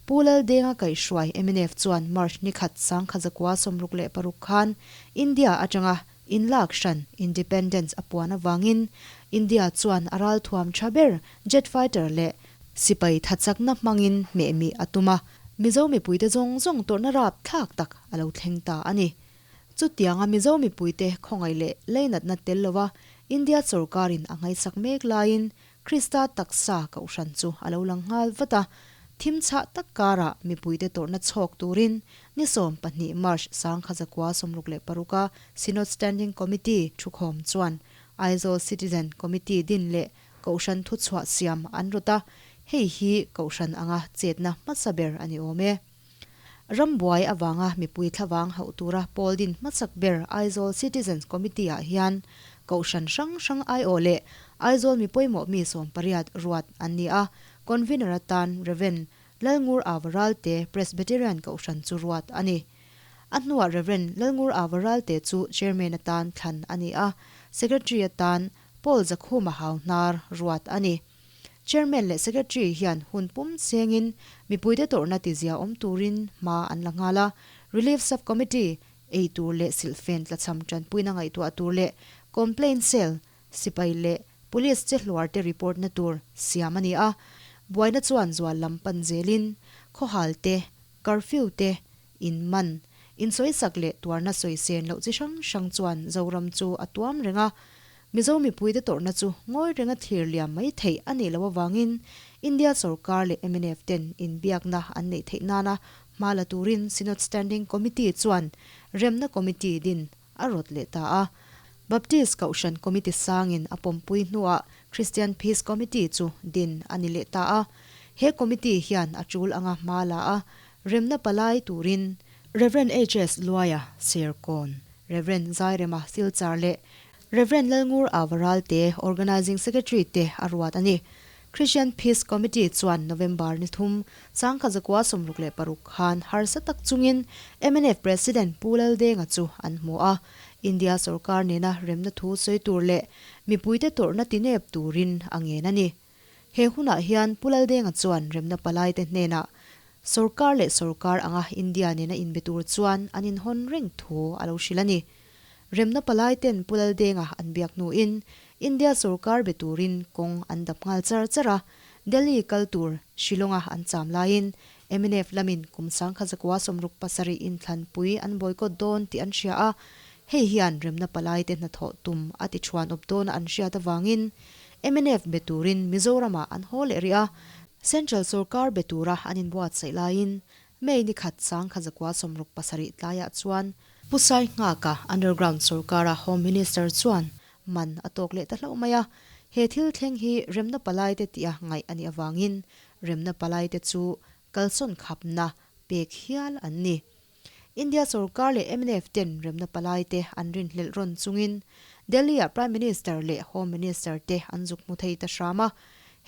Pu Laldenga kaihhruai, mnf, chuan March ni khat sangkhat zakua sawmruk leh paruk khan India atanga inlak hran, independence, a puan avangin India chuan a ral thuam tha ber jet fighter leh sipai thachakna hmangin hmehmi a tum a, Mizo mipuite zawng zawng tawrhna rap thlak tak a lo thleng ta a ni. Chutianga Mizo mipuite khawngaih leh leinatna tel lova India sorkarin a ngaihsak mek laiin Krista taksa ka uhran chu a lo lang nghal vat a, thim chhah tak karah mipuite tawrhna chhawk turin ni sawm pahnih March sangkha zakua sawmruk leh paruka Synod Standing Committee thukhawm chuan Aizawl Citizen Committee din leh Kohhran thuchhuah siam an rawt a, hei hi Kohhran anga chetna hmasa ber a ni awm e. Rambuai avanga mipui thlavang hauh tura Paul din hmachak ber Aizawl Citizens Committee-ah hian Kohhran hrang hrang aiawh leh Aizawl mi pawimawh mi sawm pariat ruat an ni a, Convener atan Rev. Lalngur Avaralte Presbyterian Kohhran chu ruat a ni. A hnuah Rev. Lalngur Avaralte chu Chairman atan thlan a ni a, Secretary atan Paul Zakhuma Hauhnar ruat a ni. Chairman leh Secretary hian hun pum chengin mipuite tawrhna ti zia awm turin hma an la nghal a, Relief Sub-Committee ei tur leh silhfen tlachham tanpuina ngaihtuah tur leh complaint cell, sipai leh Police che hluar te report na tur siam a ni a, buaina chuan zual lam pan zelin khawhal te, curfew te, In man, in sawisak leh tuarna sawi sen loh chi hrang hrang chuan Zoram chu a tuam reng a. Mizo mipui te tawrhna chu ngawi renga thlir liam mai theih a nih loh avangin India sorkar leh MNF ten inbiakna an neih theih nana hma la turin Synod Standing Committee chuan Remna Committee din a rawt leh ta a. Baptist Kohhran Committee sangin a pawmpui hnuah Christian Peace Committee chu din a ni leh ta a. He committee hian a tul anga hma la a, remna palai turin, Rev. HS. Luaia Serkawn, Rev. Zairema Silchar leh Rev. Lalngur Ava Ralte, Organising Secretary, te a ruat a ni. Christian Peace Committee chuan November ni thum, Changkha Zakua sawmruk leh paruk khan harsa tak chungin MNF President Pu Lal Denga chu an hmu a, India sorkar nena remna thu sawi tur leh mipuite tawrhna ti nep turin a ngen a ni. He hunah hian Pu Lal Denga chuan remna palaite hnena sorkar leh sorkar anga India nena inbe tur chuan an inhawn reng thu a lo hrilh a ni. Remna palai ten Pu Laldenga an biak hnuin India sorkar be turin kawng an dap nghal char char a, Delhi kal tur Shillonga an cham laiin MNF lamin kum sangkhat zakua sawmruk pasarih in thlanpui an boycott dawn tih an hria a, hei hian remna palai te hnathawh tum a tichhuan awp dawn a an hriat avangin MNF be turin Mizoram-ah an haw leh rih a, Central sorkar be tura an inbuatsaih laiin May ni khat sangkhat zakua sawmruk pasarih tlaiah chuan, Pu Sai Nghaka underground sorkara Home Minister chuan man a tawk leh ta hlauh mai a, he thil thleng hi remna palaite tih a ngaih a nih avangin remna palaite chu kalsawn khapna pek hial an ni. India sorkar leh MNF ten remna palaite an rinhlelh rawn chungin Delhi-ah Prime Minister leh Home Minister te an zuk hmu thei ta hram a,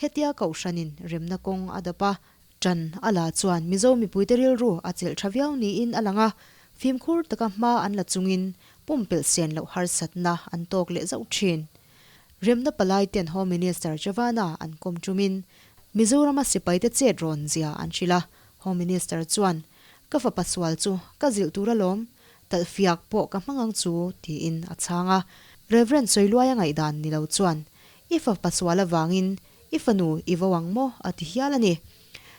hetia kohhranin remna kawng a dap a, Tan a la chuan Mizo mipuite rilru a chelh tha viau niin a lang a, fimkhur taka hma an la chungin pumpelh sian loh harsatna an tawk leh zauh thin. Remna palai ten Home Minister Chavana an kawm tumin Mizorama sipaite chet rawn zia an hrilh a, Home Minister chuan Ka fapa sual chu ka zilh tur alawm, talhfiak pawh ka hmang ang chu tiin a chhang a. Rev. Sawiluaia ngaihdan ni lo chuan I fapa sual avangin I fanu i vo ang maw? a ti hial a ni.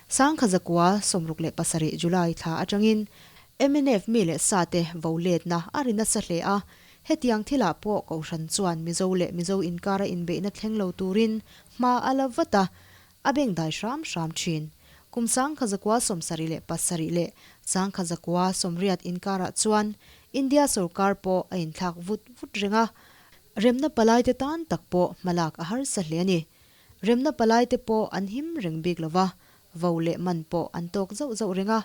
Sangkha zakua sawmruk leh pasarih July thla atangin mnf mi leh sate vo letna a ri nasa hle a, hetiang thilah pawh Kohhran chuan Mizo leh Mizo inkara inbeihna thleng lo turin hma a la vat a, a bengdai hram hram thin. Kum sangkha zakua sawmsarih leh pasarih leh sangkha zakua sawmriat inkarah chuan India sorkar pawh a inthlak vut vut reng a, Remna palaite tan tak pawh hmalak a harsa hle a ni. Remna palaite pawh an him reng bik lo va, vo leh man pawh an tawk zauh zauh reng a,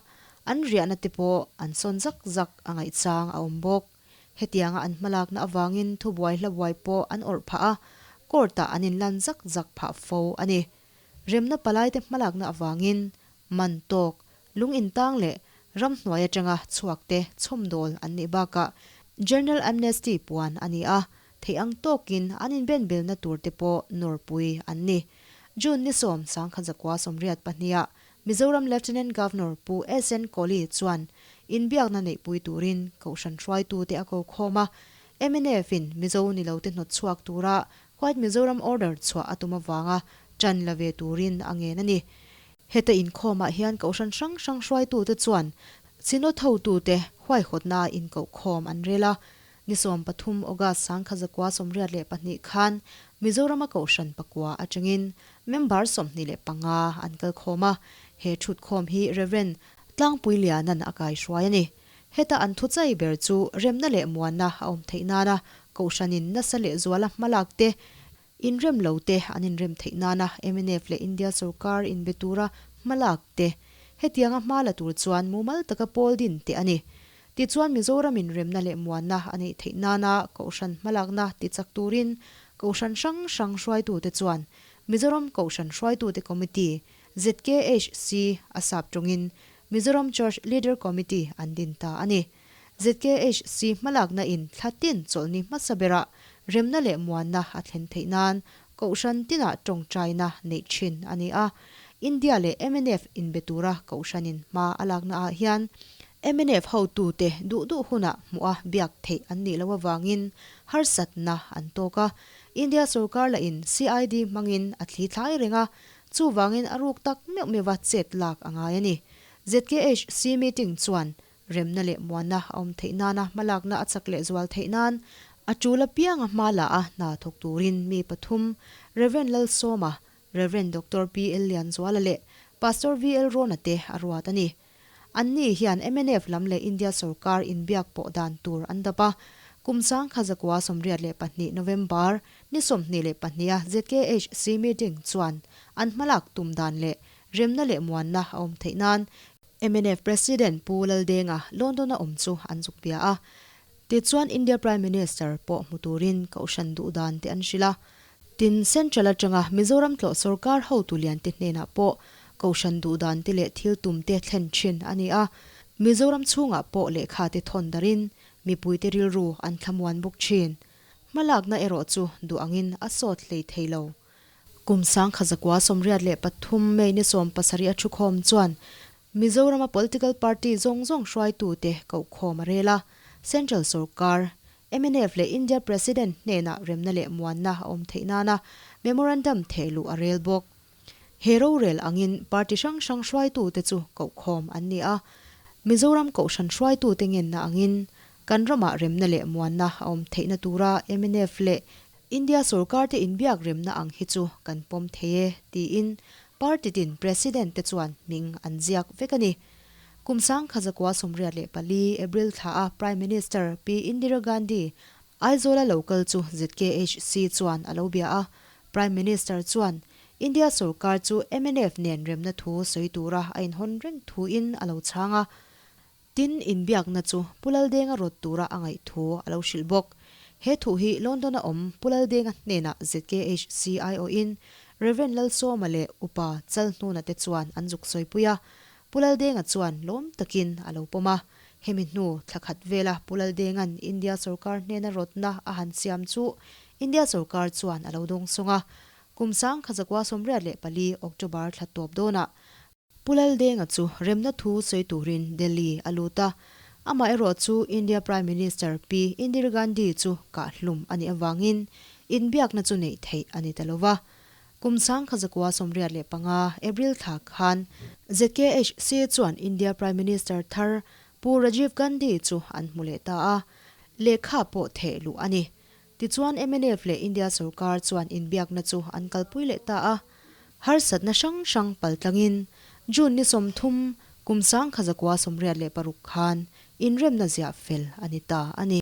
an riahna te pawh an sawn zak zak a ngaih chang a awm bawk. Hetianga an hmalakna avangin thubuai hlabuai pawh an awrh phah a, court-ah an inlan zak zak phah fo a ni. Remna palaite hmalakna avangin man tawk, lungintang leh ramhnuai atanga chhuakte chhawmnawl an nih bakah General Amnesty puan a ni a, theih ang tawkin an inbenbelna turte pawh nawrpui an ni. June ni sawm sangkhat zakua sawmriat pahnia Mizoram Lieutenant Governor Pu SN Kohli chuan inbiakna neihpui turin kohhran hruaitute a kokhawm a, MNF-in Mizo nilote hnawt chhuak tura White Mizoram order chhuah a tum avanga tan la ve turin a ngen a ni. Heta inkhawmah hian kohhran hrang hrang hruaitute chuan Synod hotute huaihawtnaah inkohkhawm an rel a, ni sawm pathum August sangkhat zakua sawmriat leh pahnih khan Mizorama kohhran pakua atangin member sawmhnih leh panga an kalkhawm a, he ṭhutkhawm hi Rev. Tlangpuiliana'n a kaihruai a ni. Heta an thu chai ber chu remna leh muanna a awm theih nana, kohhranin nasa leh zuala hmalak te, inrem lo te an inrem theih nana mnf leh India sorkar inbe tura hmalak te. Hetianga hma la tur chuan mumal taka pawl din teh a ni. Tichuan Mizoramin remna leh muanna a neih theih nana kohhran hmalakna ti chak turin kohhran hrang hrang hruaitute chuan Mizoram Kohhran Hruaitute Committee, ZKHC a sap tawngin Mizoram Church Leader Committee an din ta a ni. ZKHC hmalakna in thla tin chawlh ni hmasa berah remna leh muanna a thlen theih nan kohhran tinah tawngtaina neih thin a ni a. India leh mnf inbe tura kohhran in hma a lakna ah hian mnf hotute duh duh hunah hmuh a biak theih an nih loh avangin harsatna an tawk a. India sorkar la in CID hmangin a thli thlai reng a Chuvangin a ruk tak meuh meuhva chet lak a ngai a ni. ZKHC meeting chuan remna leh muanna a awm theih nana hmalakna a chak lehzual theih nan a tul apianga hma la a hna thawk turin mi pathum Rev. Lalsawma, Rev. Doctor PL Lianzuala leh Pastor VL Rawna te a ruat a ni. An ni hian mnf lam leh India sorkar inbiak pawh dan tur an dap a. Kum sangkha zakua sawmriat leh pahnih, November, ni sawmhnih leh pahnih a ZKHC meeting chuan an hmalak tum dan leh remna leh muanna a awm theih nan mnf President Pu Laldenga London a awm chu an zuk bia a. Tichuan India Prime Minister pawh hmu turin kohhran duh dan te an hrilh a, Tin, Central atanga Mizoram tlawh sorkar hotu liante hnenah pawh kohhran duh dan te leh thil tum te thlen thin a ni a, Mizoram chhungah pawh lehkha te thawn darin mipui te rilru an thlamuan bawk thin. Hma lakna erawh chu duh angin a sawt hlei thei lo. Kum sangkha zakua sawmriat leh pathum May ni sawm pasarih a thukhawm chuan Mizorama political party zawng zawng hruaitute kohkhawm a rel a, Central sawrkar, mnf leh India President hnenah remna leh muanna a awm theih nana memorandum thehluh a rel bawk. He rorel angin party hrang hrang hruaitute chu kohkhawm an ni a, Mizoram Kohhran hruaitute ngenna angin kan ramah remna leh muanna a awm theihna tura mnf leh India sorkarte inbiak remna ang hi chu kan pawm thei e tiin party tin president te chuan hming an ziak vek a ni. Kum sangkha zakua sawmriat leh pali April thla a Prime Minister Pi Indira Gandhi Aizawla lo kal chu zkh si chuan a lo bia a, Prime Minister chuan India sorkar chu mnf nen remna thu sawi tura a inhawn reng thu in a lo chhang a, Tin, inbiakna chu Pu Laldenga rawt tura a ngaih thu a lo hrilh bawk. He thu hi London a awm Pu Laldenga hnenah zkh CIO-in Rev. Lal Sawma leh Upa Chalhnuna te chuan an zuk sawipui a. Pu Laldenga chuan lawm takin a lo pawm a. Hemi hnu thla khat vela Pu Laldenga'n India sorkar hnena rawtna a han siam chu India sorkar chuan a lo dawng sawng a. Kum sangkha zakua sawmriat leh pali, October, thla tawp dawnah Pu Laldenga chu remna thu sawi turin Delhi a lut a, amaherawh chu India Prime Minister Pi Indir Gandhi chu kah hlum a nih avangin inbiakna chu neih theih a ni ta lo va. Kum sangkha zakua sawmriat leh panga, April thla, khan ZKHC chuan India Prime Minister thar Pu Rajiv Gandhi chu an hmu leh ta a, lehkha pawh theih luh a ni. Tichuan mnf leh India sorkar chuan inbiakna chu an kalpui leh ta a, harsatna hrang hrang pal tlangin June ni sawmthum kum sangkha zakua sawmriat leh paruk khan inremna ziah fel a ni ta a ni.